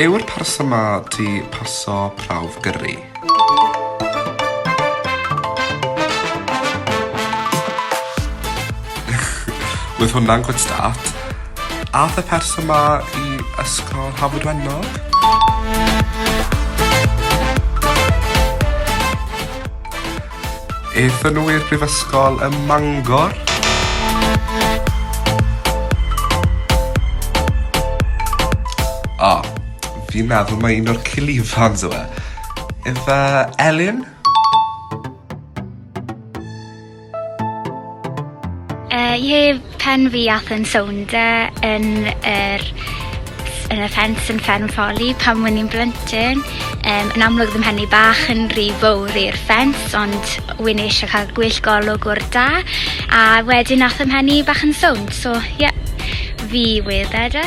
Yw'r person 'ma 'di paso prawf gyrru? Oedd hwnna'n good start. Ath y person ma i ysgol Hafod Wennog? Aethon nhw i'r brifysgol ym Mangor. O, oh, fi'n meddwl mae un o'r cilifans yw e. Efe Elin? Uh, ie, Pen fi ath yn sownd e yn yr ff- yn y ffens yn Fferm Folly pan wen i'n blentyn yym yn amlwg fy mhen i bach yn ry fowr i'r ffens ond wen i isie ca'l gwell golwg o'r da a wedyn ath 'y mhen i bach yn sownd so ie fi wedd e de.